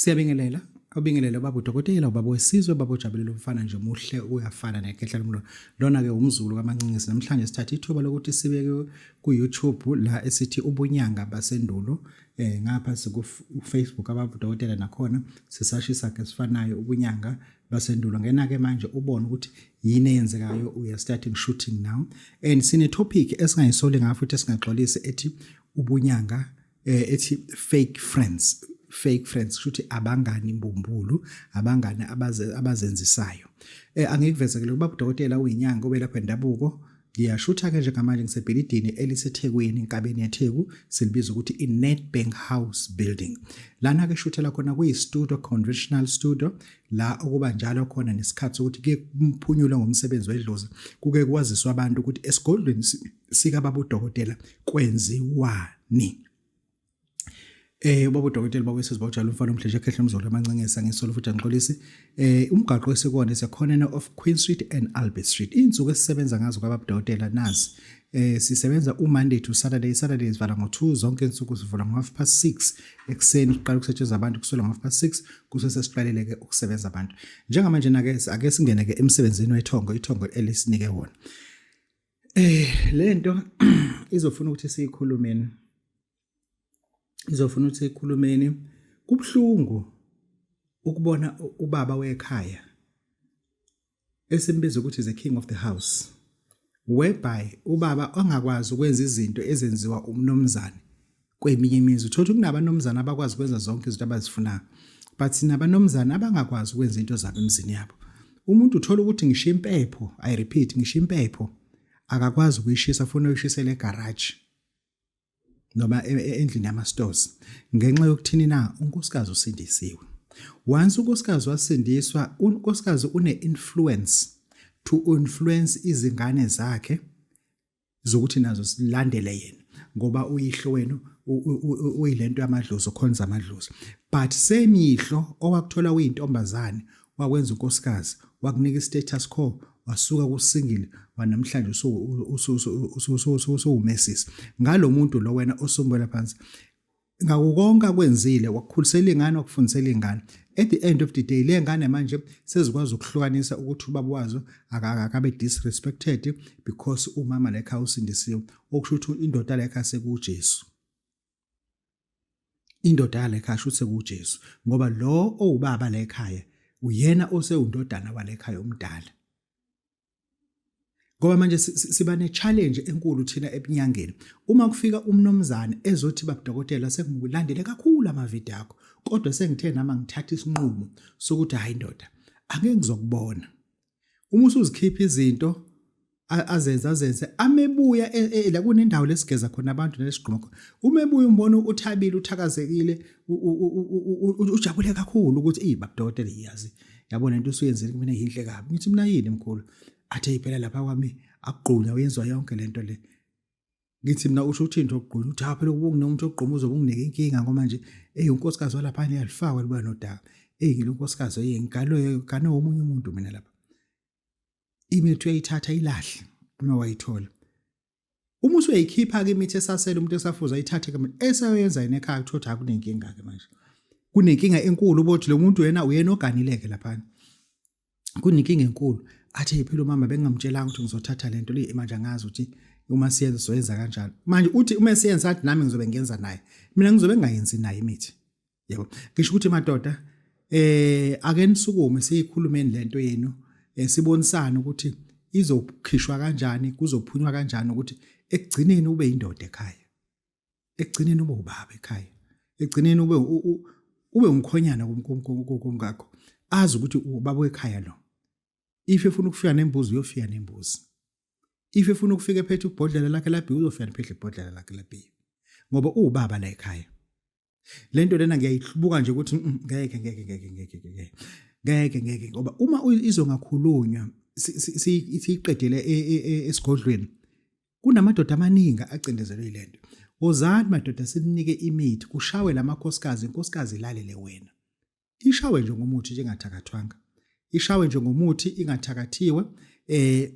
Siyabingelela obingelele ubaba udokotela ubaba wesizwe ubaba ojabulela umfana nje muhle uyafana nekhehla lomlolo lona-ke umzulu kamancinisi namhlanje sithatha ithuba lokuthi sibeke ku-youtube la esithi ubunyanga basendulo eh ngapha sikufacebook ababa udokotela nakhona sisashisa-ke sifanayo ubunyanga basendulo ngena-ke manje ubone ukuthi yini eyenzekayo uya starting shooting now and sine-topic esingayisoli ngayo futhi esingaxolisi ethi ubunyanga eh ethi fake friends fake friends kusho ukuthi abangani imbumbulu abangani abazenzisayo eh angikuvezekele ukuba udokotela uyinyanga obelapha indabuko ngiyashutha ke njengamanje ngisebhilidini elisethekwini enkabeni yetheku silibiza ukuthi i-nedbank house building lana ke shuthela khona kuyi-studio conventional studio la okuba njalo khona nesikhathi sokuthi kuye kuphunyulwe ngomsebenzi wedlozi kuke kwaziswa abantu ukuthi esigodlweni sika baba udokotela kwenziwani Eh ubaba udokotela baba wesizwe bawujala umfana omdleje ekhehle umzolo amancengesa ngesolo futhi angiqolisi eh umgaqo esikona sekhona of Queen Street and Albert Street insuku esisebenza ngazo kwababa udokotela nazi eh sisebenza uMonday to Saturday Saturday sivala ngo2 zonke insuku sivula ngo half past 6 ekseni siqala ukusetshenziswa abantu kusukela ngo half past 6 kusese siqalele ke ukusebenza abantu njengamanje nake ake singene ke emsebenzini wethongo ithongo elisinike wona Eh lento izofuna ukuthi siyikhulumeni. Izofuna ukuthi siyikhulumeni. Kubhlungu ukubona ubaba wekhaya esimbiza ukuthi is the king of the house. Whereby ubaba ongakwazi ukwenza izinto ezenziwa umnomzane kweminye imizi uthola ukuthi kunabanomzana abakwazi ukwenza zonke izinto abazifunayo but sinabanomzana abangakwazi ukwenza into zabo emzini yabo umuntu uthola ukuthi ngisho impepho i repeat ngisho impepho akakwazi ukuyishisa funa uyishisele egarage noma e, e, endlini yama-stores ngenxa yokuthini na unkosikazi usindisiwe once unkosikazi wasindiswa unkosikazi une-influence to influence izingane zakhe zokuthi nazo silandele yena ngoba uyihlo wenu uyilento yamadlozi okhonza amadlozi but same yihlo owakuthola uyintombazane wakwenza unkosikazi wakunika istatus quo wasuka kusingile wanamhlanje usuwumesisi ngalo muntu lo wena osumbela phansi ngako konke akwenzile wakukhulisela ingane wakufundisela ingane at the end of the day le ngane manje sezikwazi ukuhlukanisa ukuthi ubaba wazo akabe disrespected because umama la ekhaya usindisiwe okusho ukuthi indoda la ekhaya sekujesu indoda yala ekhaya shuthi sekujesu ngoba lo owubaba la ekhaya uyena osewundodana wala ekhaya omdala ngoba manje siba ne-challenge enkulu thina ebunyangeni uma kufika umnomzane ezothi babudokotela sekungilandele kakhulu amavidiyo akho kodwa sengithe nama ngithatha isinqumo sokuthi hhayi ndoda angeke ngizokubona uma usuzikhipha izinto azenze azenze amebuya e, e, la kunendawo lesigeza khona abantu nesigqoko uma ebuya umbona uthabile uthakazekile ujabule kakhulu ukuthi ey babudokotela iyazi yabo lento usuyenzile kumina yinhle kabi ngithi mina yini mkhulu athe iphela lapha kwami akugqunywa uyenziwa yonke lento le ngithi mina usho uthi into ogqunywa uthi haphela ukubungina umuntu ogquma uzobe unginike inkinga ngoba nje eyi unkosikazi walapha niyalifakwa liba nodaka eyi ngilo nkosikazi eyi ngikalo kane womunye umuntu mina lapha imithi uyayithatha ilahle uma wayithola Uma usuyayikhipha-ke imithi esasele umuntu esafuza ayithathe-ke manje esayoyenza yena ekhaya kuthiwa ukuthi hhayi kunenkinga-ke manje. Kunenkinga enkulu uba ukuthi lo muntu uyena uyena oganile-ke laphana. Kunenkinga enkulu. Athi eyiphila umama bengingamtshelanga ukuthi ngizothatha le nto leyi manje angazi ukuthi uma siyenza soyenza kanjalo. Manje uthi uma siyenza athi nami ngizobe ngiyenza naye. Mina ngizobe ngingayenzi naye imithi. yebo ngisho ukuthi madoda eh ake nisukume siyikhulumeni lento yenu eh, sibonisana ukuthi izokhishwa kanjani kuzophunywa kanjani ukuthi ekugcineni ube indoda ekhaya ekugcineni ube ubaba ekhaya ekugcineni ube ube umkhonyana kumkakho azi ukuthi ubaba wekhaya lo if efuna ukufika nembuzi uyofika nembuzi if efuna ukufika ephethe ubhodlela lakhe labhiya uzofika nephethe ibhodlela lakhe labhiya ngoba uwubaba la ekhaya le nto lena ngiyayihlubuka nje ukuthi mm, ngeke ngeke ngeke ngeke ngeke ngeke ngeke ngoba uma izongakhulunywa siyiqedele e, e, e, esigodlweni kunamadoda amaningi acindezelwe yile nto wozani madoda sinike imithi kushawe la makhosikazi inkosikazi ilalele wena ishawe nje ngomuthi njengathakathwanga ishawe nje ngomuthi ingathakathiwe eh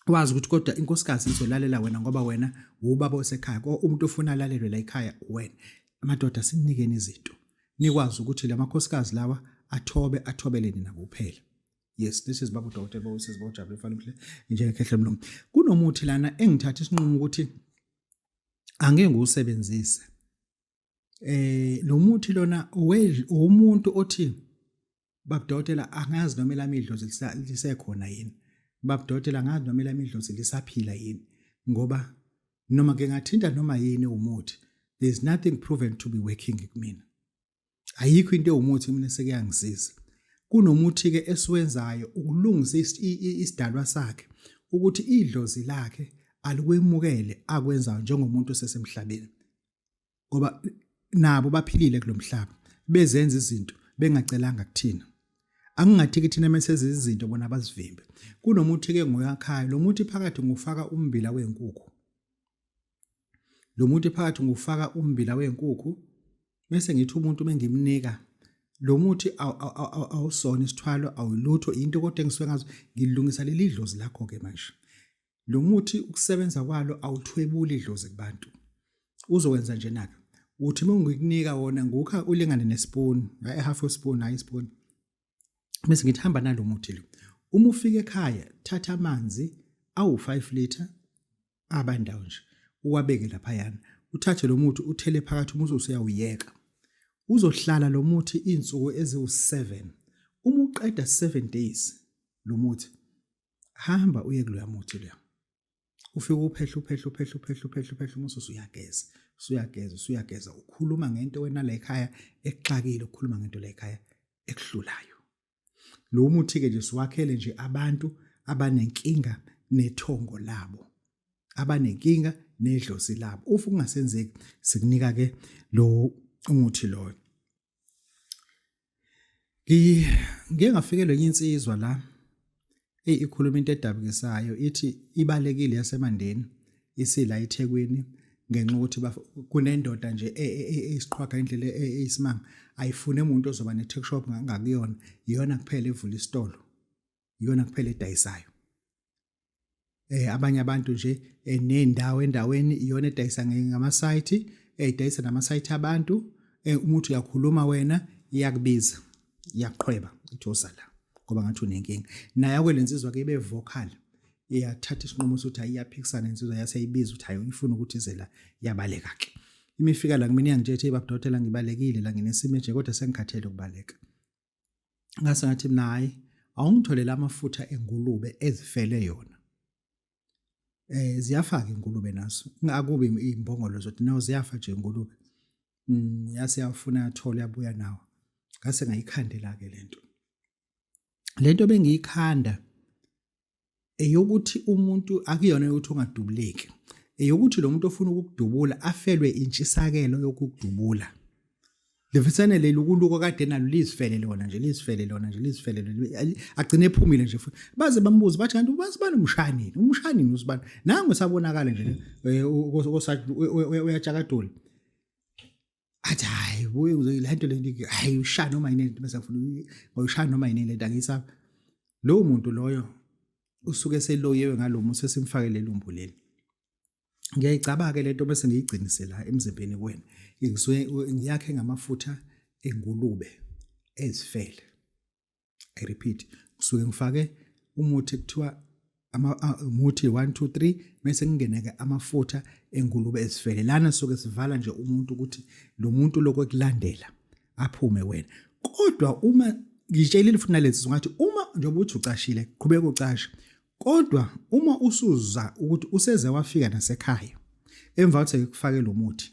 wazi ukuthi kodwa inkosikazi izolalela wena ngoba wena wubaba osekhaya ko umuntu ofuna alalelwe la ekhaya wena amadoda sinikeni izinto nikwazi ukuthi lamakhosikazi lawa athobe athobele nina kuphela yes this is babu doctor babu sisi babu jabule mfana mhle njengekhehle mlungu kunomuthi lana engithatha isinqumo ukuthi angeke ngiwusebenzise eh lo muthi lona owomuntu othi babudokotela angazi noma elamidlozi lisekhona yini babudokotela angazi noma elamidlozi lisaphila yini ngoba noma ke ngathinta noma yini umuthi there's nothing proven to be working kumina ayikho into ewumuthi mina sekuyangisiza kunomuthi ke esiwenzayo ukulungisa isidalwa sakhe ukuthi idlozi lakhe alikwemukele akwenzayo njengomuntu osesemhlabeni ngoba nabo baphilile kulomhlaba bezenza izinto bengacelanga kuthina angingathi ke thina mesenza izinto bona bazivimbe kunomuthi ke ngoyakhayo lo muthi phakathi ngufaka umbila wenkukhu lo muthi phakathi ngufaka umbila wenkukhu bese ngithi umuntu bengimnika lo muthi awusona isithwalo awulutho into kodwa engisuke ngazo ngilungisa leli dlozi lakho ke manje lo muthi ukusebenza kwalo awuthwebuli idlozi kubantu uzowenza nje naka uthi uma ngikunika wona ngukha ulingane nespoon hayi half a spoon hayi spoon bese ngithi hamba nalo muthi lo uma ufika ekhaya thatha amanzi awu 5 liter abandawo nje uwabeke lapha yana uthathe lo muthi uthele phakathi uma usuyawuyeka uzohlala lo muthi izinsuku eziwu7 uma uqeda 7 days lo muthi hamba uye kuloya muthi loya ufike uphehla uphehla uphehla uphehla uphehla uphehla uma usuyageza usuyageza usuyageza ukhuluma ngento wena la ekhaya ekuxakile ukhuluma ngento la ekhaya ekuhlulayo lo muthi ke nje siwakhele nje abantu abanenkinga nethongo labo abanenkinga nedlozi labo ufu kungasenzeki sikunika ke lo umuthi loyo Ngike ngafikelwa enye insizwa la eyi ikhuluma into edabukisayo ithi ibalekile yaseMandeni isila eThekwini ngenxa ukuthi kunendoda nje e, e, e, eyisiqhwaga indlela eyisimanga ayifune umuntu ozoba ne-tech shop ngakuyona iyona kuphela evula isitolo iyona kuphela edayisayo eh abanye abantu nje eh, nendawo endaweni iyona edayisa ngama site eh, edayisa nama site abantu eh, umuntu uyakhuluma wena iyakubiza iyaqhweba ithosa la ngoba ngathi unenkinga naye akwelensizwa ke ibe vocal iyathatha isinqumo sokuthi ayiyaphikisana insizwa yaseyibiza ukuthi hayi uyifuna ukuthi ize la yabaleka ke imifika la kumina iyangijethe ibabudotela ngibalekile la nginesimo nje kodwa sengikhathele ukubaleka ngase ngathi mina hayi awungitholele amafutha engulube ezifele yona eh ziyafaka ingulube naso akubi imbongolo zothi nawo ziyafa nje ingulube mm, yase yafuna yathola yabuya nawo ngase ngayikhandela ke lento lento bengiyikhanda eyokuthi umuntu akuyona ukuthi ungadubuleki eyokuthi lo muntu ofuna ukukudubula afelwe intshisakelo yokukudubula lefisane leli ukuluko kade nalo lizifele lona nje lizifele lona nje lizifele lona agcine ephumile nje futhi baze bambuze bathi kanti ubazi bani umshanini umshanini usibani nangu sabonakala nje eh, osathi uyajakadula athi hayi buye le nto le nto hayi ushaya noma yini lento bese ngifuna ngoyishaya noma yini lento angisabi lowo muntu loyo usuke seloyewe ngalo musa simfake lelumbu leli ngiyayicabake lento bese ngiyigcinise la emzimbeni kwena ngisuke ngiyakhe ngamafutha engulube ezifele i repeat kusuke ngifake umuthi kuthiwa ama umuthi 1 2 3 bese kungena ke amafutha engulube ezifele lana soke sivala nje umuntu ukuthi lo muntu lokho ekulandela aphume wena kodwa uma ngitshelile futhi nalezi ngathi uma njengoba uthi ucashile qhubeka ucashe kodwa uma usuza ukuthi useze wafika nasekhaya emva kokuthi kufake lo muthi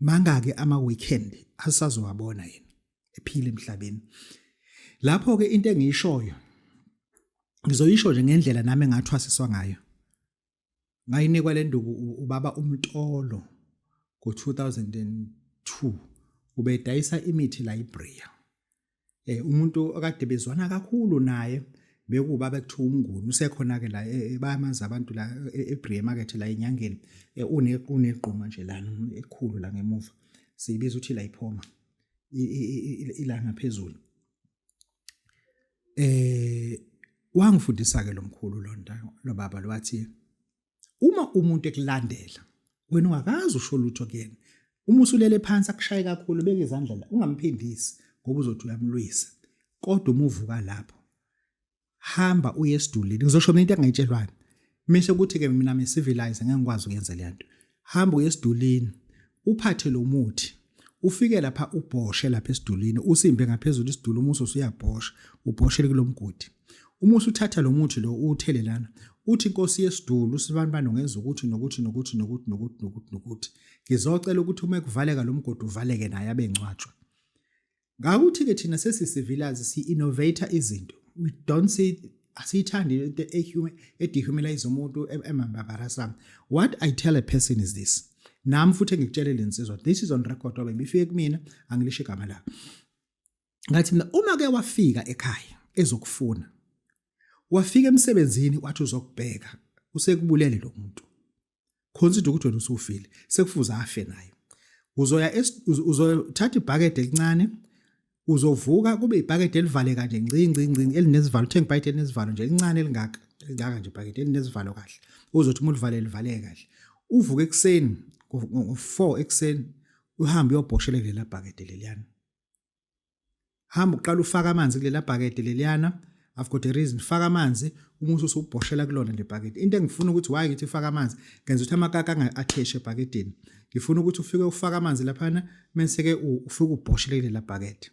mangake ama weekend asazowabona yena ephila emhlabeni lapho ke into engiyishoyo ngizoyisho nje ngendlela nami engathwasiswa ngayo ngayinikwa le nduku ubaba umtolo ngo-2002 ubedayisa imithi la ibria eh umuntu okade bezwana kakhulu naye bekuba bekuthiwa umnguni usekhona ke la e, e, bayamanzi abantu la e, eBree market la enyangeni une unegquma nje la ekhulu la ngemuva siyibiza ukuthi la iphoma ilanga phezulu eh wangifundisa ke lomkhulu lonta lobaba lwathi uma umuntu ekulandela wena ungakazi usho lutho kuyena uma usulele phansi akushaye kakhulu beke izandla la ungamphindisi ngoba uzothi uyamlwisa kodwa uma uvuka lapho hamba uye esidulini ngizosho mina into engayitshelwani mise ukuthi ke mina me civilize ngeke ngikwazi ukuyenza le nto hamba uye esidulini uphathe lo muthi ufike lapha ubhoshe lapha esidulini usimbe ngaphezulu isidulu umuso usuyabhosha ubhoshele kulomgodi uma usuthatha lo muthi lo uwuthele lana uthi inkosi yesidulu sibani bani ungenza ukuthi nokuthi nokuthi nokuthi nokuthi nokuthi nokuthi ngizocela ukuthi uma kuvaleka lo mgodi uvaleke naye abengcwatshwa Ngakuthi-ke thina sesisivilazi si-innovator izinto. We don't see asiyithandi into edehumanize umuntu emambabarasam. What I tell a person is this. Nami futhi engikutshele le nsizwa. This is on record obe bifike kumina angilisho igama la. Ngathi mina uma ke wafika ekhaya ezokufuna. Wafika emsebenzini wathi uzokubheka. Usekubulele lo muntu. consider ukuthi wena usufile sekufuze afe naye uzoya uzothatha ibhakede elincane uzovuka kube ibhakede elivaleka nje ncinci ncinci elinesivalo uthenga ibhakede elinesivalo nje elincane elingaka elingaka nje ibhakede elinesivalo kahle uzothi uma ulivale livaleke kahle uvuke ekuseni ngo-4 ekuseni uhambe uyobhoshele kulela bhakede leliyana hamba uqala ufaka amanzi kulela bhakede leliyana I've got a reason faka amanzi uma usubhoshela kulona le bhakede into engifuna ukuthi why ngithi faka amanzi ngenza ukuthi amakaka angatheshe ebhakedeni ngifuna ukuthi ufike ufaka amanzi laphana menseke ufike ubhoshele kulela bhakede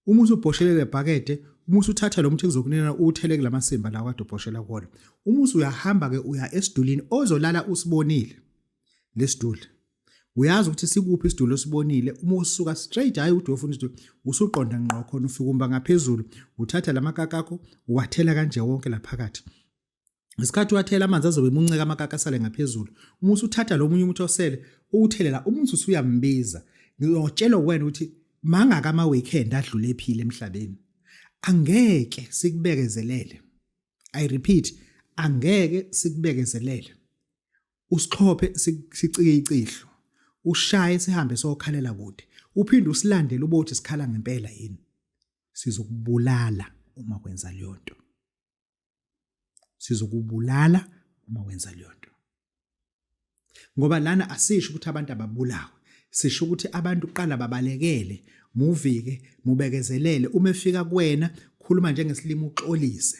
uma usubhoshele le bhakede uma usuthatha lo muthi kuzokunena uwuthele kula masimba la kade ubhoshela kuwona uma usuyahamba-ke uya esidulini ozolala usibonile lesiduli uyazi ukuthi sikuphi isidulo osibonile uma usuka straight hayi ukuthi uyofuna isidulo usuqonda ngqo khona ufika umba ngaphezulu uthatha la makaka akho uwathela kanje wonke la phakathi ngesikhathi uwathela amanzi azobe emunceka amakaka asale ngaphezulu uma usuthatha lo munye umuthi osele uwuthelela umuntu usuyambiza ngiyotshelwa wena ukuthi mangaka ama-weekend adlule ephile emhlabeni angeke sikubekezelele i repeat angeke sikubekezelele usixhophe sicike icihlo ushaye sihambe sokhalela kude uphinde usilandele ubothi sikhala ngempela yini sizokubulala uma kwenza leyo nto sizokubulala uma wenza leyo nto ngoba lana asisho ukuthi abantu ababulawe sisho ukuthi abantu qala babalekele muvike mubekezelele uma efika kuwena khuluma njengesilimo uxolise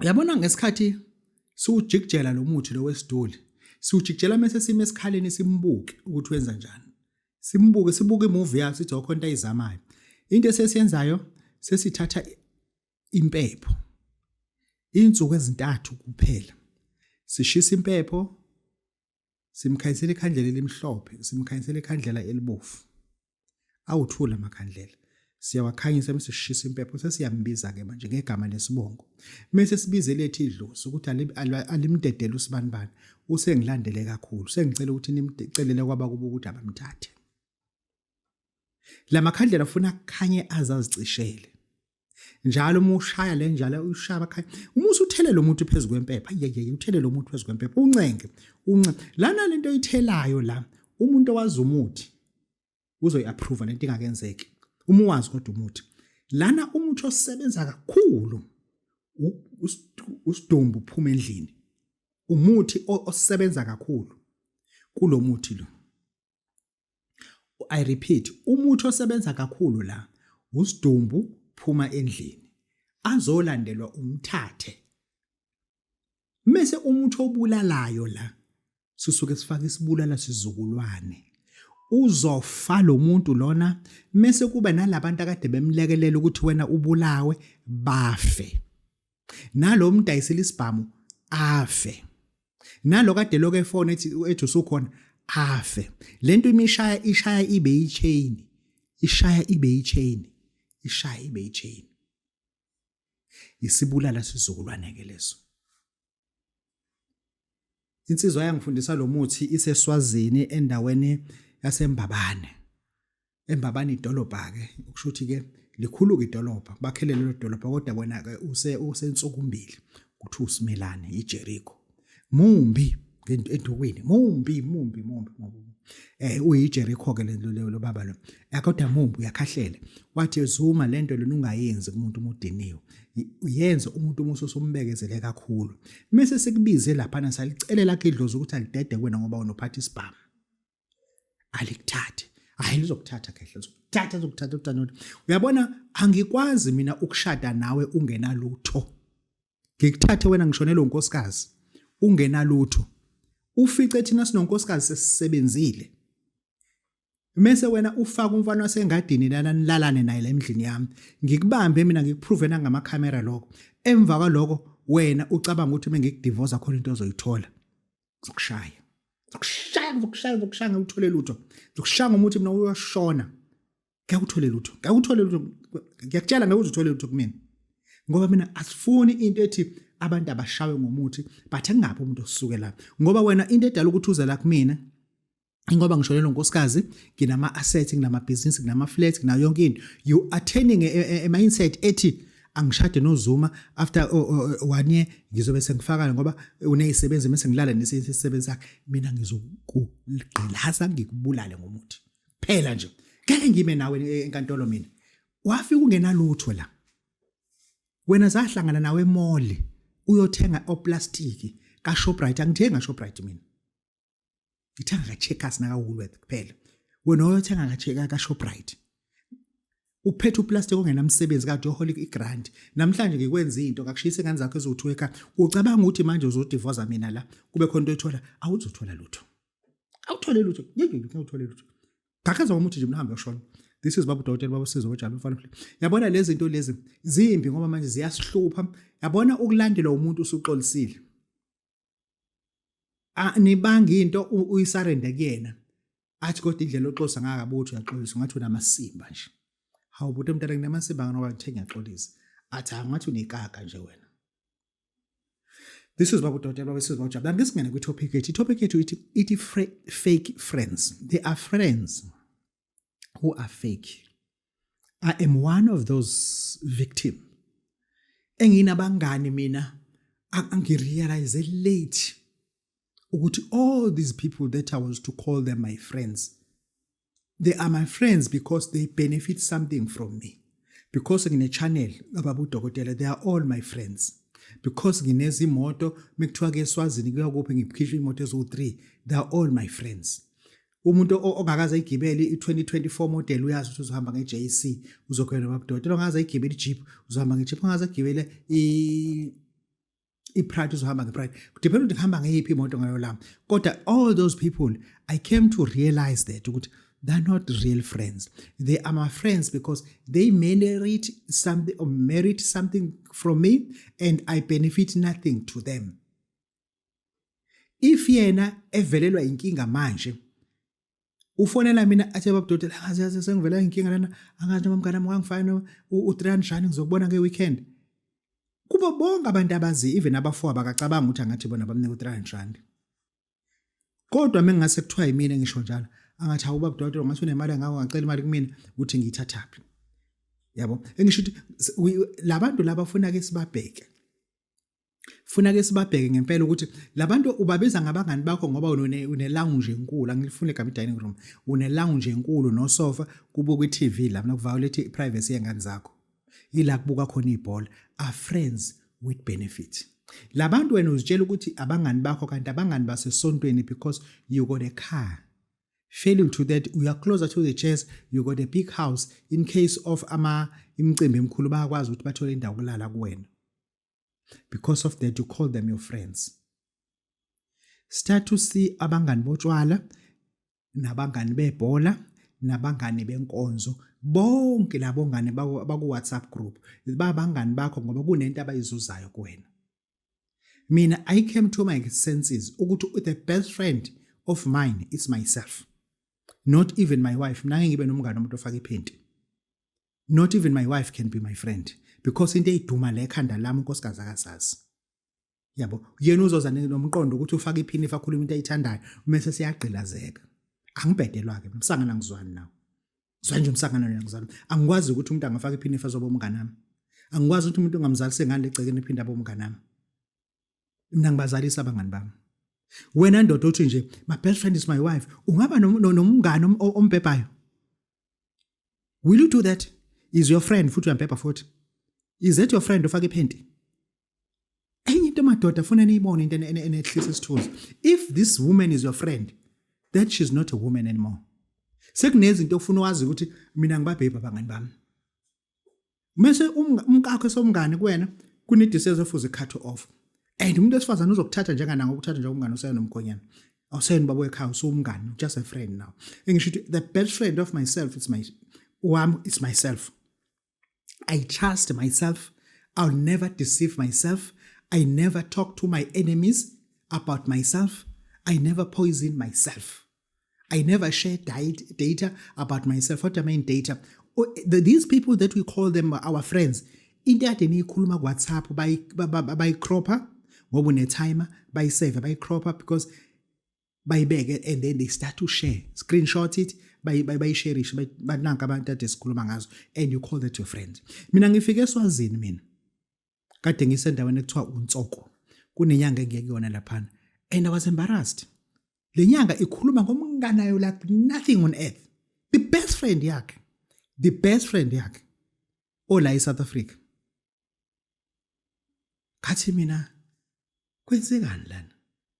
uyabona ngesikhathi siwujikijela lo muthi lo wesiduli siwujikijela mese sime esikhaleni simbuke ukuthi wenza njani simbuke sibuke imuvi yakhe sithi okho into ayizamayo into esesiyenzayo sesithatha impepho insuku ezintathu kuphela sishisa impepho Simkhanyisela ikhandlela elimhlophe, simkhanyisela ikhandlela elibovu. Awuthula amakhandlela. Siyawakhanyisa bese sishisa impepho sesiyambiza ke manje ngegama lesibongo. Mese sibize lethi idlozi ukuthi alimdedele usibanibani. Usengilandele kakhulu. Sengicela ukuthi nimcelele kwaba kuba ukuthi abamthathe. Lamakhandlela ufuna kukhanye azazicishele. njalo uma ushaya le njalo ushaya abakhaya uma usuthele lo muntu phezu kwempepha yeyeye uthele lo muntu phezu kwempepha uncenge unce lana lento oyithelayo la umuntu owazi umuthi uzoyi-approva lento ingakenzeki uma uwazi kodwa umuthi lana umuthi osebenza kakhulu usidumbu uphuma endlini umuthi osebenza kakhulu kulomuthi lo I repeat, umuthi osebenza kakhulu la usidumbu phuma endlini azolandelwa umthathe mese umuthi obulalayo la sisuke sifaka isibulala sizukulwane uzofa lo muntu lona mese kuba nalabantu akade bemlekelela ukuthi wena ubulawe bafe nalo mdayisela isibhamu afe nalo kade lokho efone ethi ethi usukhona afe lento imishaya ishaya ibe yichain ishaya ibe yichain ishaya ibe yichain isibulala sizukulwane ke leso insizwa yangifundisa lo muthi iseswazini endaweni yasembabane embabani idolobha ke ukusho ukuthi ke likhulu ke idolobha bakhele lelo dolobha kodwa wena ke use usensukumbili kuthi usimelane iJericho mumbi endukwini mumbi mumbi mumbi eh uyiJericho ke lento lo baba lo kodwa mumbi uyakhahlela wathi ezuma lento lona ungayenzi kumuntu umudiniwe uyenze umuntu umuso usumbekezele kakhulu mase sikubize lapha na salicelela kidlozi ukuthi alidede kwena ngoba unophatha isibhamu alikuthathi hayi lizokuthatha kahle lizokuthatha lizokuthatha utanoti uyabona angikwazi mina ukushada nawe ungenalutho ngikuthathe wena ngishonelwe unkosikazi ungenalutho ufice thina sinonkosikazi sesisebenzile Mese wena ufaka umfana wasengadini lana nilalane naye la emndlini yami. Ngikubambe mina ngikuprove nangama camera lokho. Emva kwaloko wena ucabanga ukuthi mengikudivorce khona into ozoyithola. ngizokushaya ngizokushaya ngizokushaya ngizokushaya ngikuthole lutho ngizokushaya ngomuthi mina uyashona ngeke uthole lutho ngeke uthole lutho ngiyakutshela ngeke uthole lutho kumina ngoba mina asifuni into ethi abantu abashawe ngomuthi but engabe umuntu osuke la ngoba wena into edala ukuthi uze la kumina ingoba ngisho lelo nkosikazi nginama assets nginama business nginama flats nginayo yonke into you are turning a, a, a mindset ethi angishade nozuma after oh, oh, oh, one year ngizobe sengifakana ngoba unezisebenzi mase ngilala nesisebenzi sakhe mina ngizokugqilaza ngikubulale ngomuthi phela nje ngeke ngime nawe e, enkantolo mina wafika ungenalutho la wena zahlangana nawe emall uyothenga oplastiki ka Shoprite angithenga Shoprite mina ngithenga ka-checkers naka-woolworth kuphela wena oyothenga ka-checker ka-shoprite uphethe uplastic ongenamsebenzi kade uyohola igrant namhlanje ngikwenza into kakushiyisa ingane zakho eziwu-two ekha ucabanga ukuthi manje uzodivoza mina la kube khona into oyithola awuzothola lutho awuthole lutho ngiyewuthole lutho gakhaza komuthi nje mnahambe yoshona this is babu dokotela babu sizo bajalo mfana mfana yabona lezi zinto lezi zimbi ngoba manje ziyasihlupha yabona ukulandela umuntu usuxolisile anibanga into uyisarende kuyena athi kodwa indlela oxosa ngakabuthi uyaxolisa ngathi unamasimba nje hawu buti mntana nginamasimba nganoba ngithe ngiyaxolisa athi angathi unekaka nje wena This is Babu Dotela, this is Babu Jab. I'm just going to go topic it. Topic it, it, it fake friends. They are friends. who are fake. I am one of those victim. Enginabangani mina angirealize late ukuthi all these people that I was to call them my friends they are my friends because they benefit something from me. Because ngine channel ababu dokotela they are all my friends. Because nginezimoto mekuthiwa ke eSwazini kuyakuphi ngiphikisha imoto eziwu3 they are all my friends. umuntu ongakaze igibele i-2024 model uyazi ukuthi uzohamba nge-JC uzokhwela babudoti ongakaze igibele i-Jeep uzohamba nge-Jeep ongakaze igibele i-Pride uzohamba nge-Pride kudepend ukuthi ngihamba ngeyiphi imoto ngalo lami kodwa all those people I came to realize that ukuthi they're not real friends. They are my friends because they merit something or merit something from me and I benefit nothing to them. if yena evelelwa inkinga manje ufonela mina athi baba doti angazi yazi sengivela inkinga lana angazi noma mngane wami wangifana u3 njani ngizokubona nge weekend kubo bonke abantu abazi even abafo abakacabanga ukuthi angathi bona bamnika u3 njani kodwa mengase kuthiwa yimina ngisho njalo angathi hawu baba doti ngathi unemali ngako ngacela imali kumina ukuthi ngiyithathaphi yabo engisho ukuthi labantu laba ufuna ke sibabheke funa ke sibabheke ngempela ukuthi labantu ubabiza ngabangani bakho ngoba une une lounge enkulu angilifune igama dining room une lounge enkulu no sofa kubo kwi TV la mina kuviolate privacy yengane zakho yila kubuka khona ibhola are friends with benefit labantu wena uzitshela ukuthi abangani bakho kanti abangani basesontweni because you got a car failing to that you are closer to the chairs you got a big house in case of ama imicimbi emikhulu bayakwazi ukuthi bathole indawo kulala kuwena because of that you call them your friends start to see abangani botshwala nabangani bebhola nabangani benkonzo bonke labo ngane baku WhatsApp group babangani bakho ngoba kunento abayizuzayo kuwena mina i came to my senses ukuthi the best friend of mine is myself not even my wife mina ngibe nomngane umuntu ofaka iphenti not even my wife can be my friend because into eyiduma le khanda lami unkosikazi akazazi yabo yena uzoza nomqondo ukuthi ufaka iphini fakhuluma into ayithandayo mase siyagqilazeka angibhedelwa ke msangana ngizwani nawo zwa nje umsangana wena ngizwani angikwazi ukuthi umuntu angafaka iphini fazoba umngane nami angikwazi ukuthi umuntu ongamzalise ngale gcekeni iphinda abe umngane nami mina ngibazalisa abangani bami wena ndoda uthi nje my best friend is my wife ungaba nomngane ombhebhayo will you do that is your friend futhi uyampepha futhi is that your friend ofake iphenti enye into madoda funa niyibone into enehlisa isithuzi if this woman is your friend that she's not a woman anymore sekunezinto ofuna wazi ukuthi mina ngibabhebha abangani bami mese um-, umkakho esomngane kuwena kunediseza efuze icut off and umuntu wesifazane uzokuthatha njengananga ukuthatha njengomngane usena nomkhonyana awuseni baba wekhaya usumngane just a friend now engisho ukuthi the best friend of myself it's my wam it's myself i trust myself i'll never deceive myself i never talk to my enemies about myself i never poison myself I never share data about myself. What do I mean data? Oh, these people that we call them our friends, into ade niyikhuluma kuwhatsapp bayicropper ngoba unetimer bayisave bayicropper because bayibeke and then they start to share screenshot it bayisherishe bananka abantu ade sikhuluma ngazo and you call that your friend mina ngifike eswazini mina kade ngisendaweni ekuthiwa uNtsoko kunenyanga engiyeke yona laphana and I was embarrassed le nyanga ikhuluma ngomnganayo like nothing on earth the best friend yakhe the best friend yakhe ola eSouth Africa ngathi mina kwenzekani lana